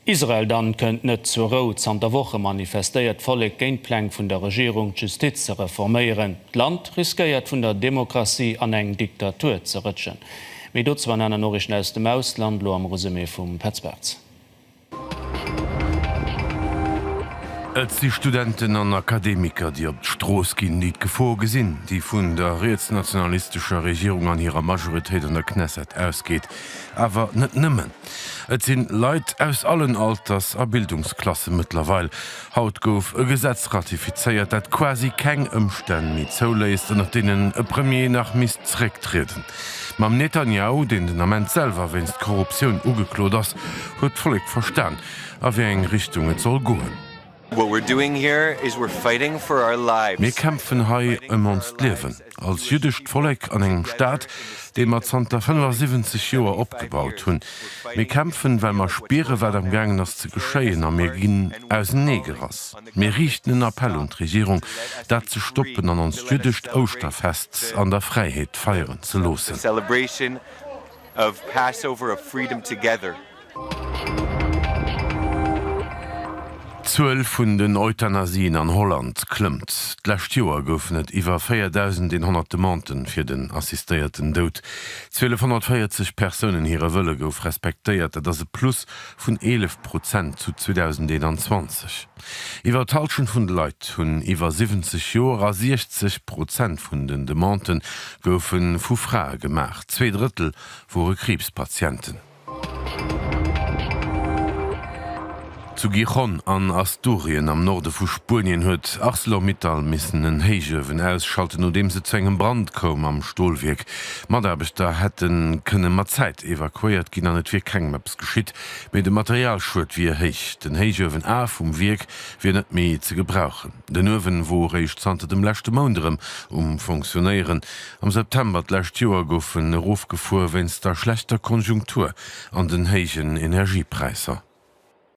Israel dann kënnt net zur Rou, Zanter Woche manifestéiert d'Vollek géint d'Pläng vun der Regierung, d'Justiz ze reforméieren. D'Land riskéiert vun der Demokratie an eng Diktatur ze rëtschen. Méi dozou an aner Noriichten aus dem Ausland, lo am Resumé vum Petz Bartz. Et si Studenten an Akademiker, déi op d'Strooss ginn, déi d'Gefor gesinn, déi vun der rietsnationalistescher Regierung an hirer Majoritéit an der Knesset ausgeet. Awer net nëmmen. Et sinn Leit aus allen Alters a Bildungsklassen mëttlerweil. Haut gouf e Gesetz ratifizéiert, dat quasi keng Ëmstänn méi zouléisst, ënnert deenen e Premier nach misst zerécktrieden. Mam Netanjahu, deen den Ament selwer wéinst Korruptioun ugeklot ass, huet d'Vollek verstan, a wéi eng Richtung et soll goen. Mir kämpfen hei ëm onst Liewen, als jüddescht Vollek an engem Staat, dee mer zanter 75 Joer opgebaut hunn. Mir kämpfen, well mer spieren, wat am gaangen ass ze geschéien, a mir ginn ausernee gerass. Mir riichten en Appell un d'Regierung, dat ze stoppen an onst jüddescht Ouschterfest an der Fräiheet feieren ze loossen. D'Zuel vun den Euthanasien an Holland klëmmt. D'lescht Joer goufen et iwwer 4.100 Demandë fir den assistéierten Doud. 1.240 Persounen hire Wëlle gouf respektéiert, dat ass e Plus vun 11 Prozent zu 2021. Iwwer d'Hallschent vun de Leit hunn iwwer 70 Joer a 60 Prozent vun den Demandë goufe vu Frae gemaach, zwee Drëttel wore Kriibspatienten. Zu Gijón an Asturien am Norde vu Spuenien huet Arcelor-Mittal missen en Héichuewen ausschalten, nodeems et zu engem Brand koum am Stolwierk. Mataarbechter hätte kënne mat Zäit evakuéiert ginn an et wier kengem eppes geschitt, mee de Materialschued wier héich. Den Héichuewen A vum Wierk wier net méi ze gebrauchen. Den Uewen wor eréischt zanter dem leschte Mount erëm um Funktionéieren. Am September d'lescht Joer gouf en erofgefuer wéinst der schlechter Konjunktur an den héijen Energiepräisser.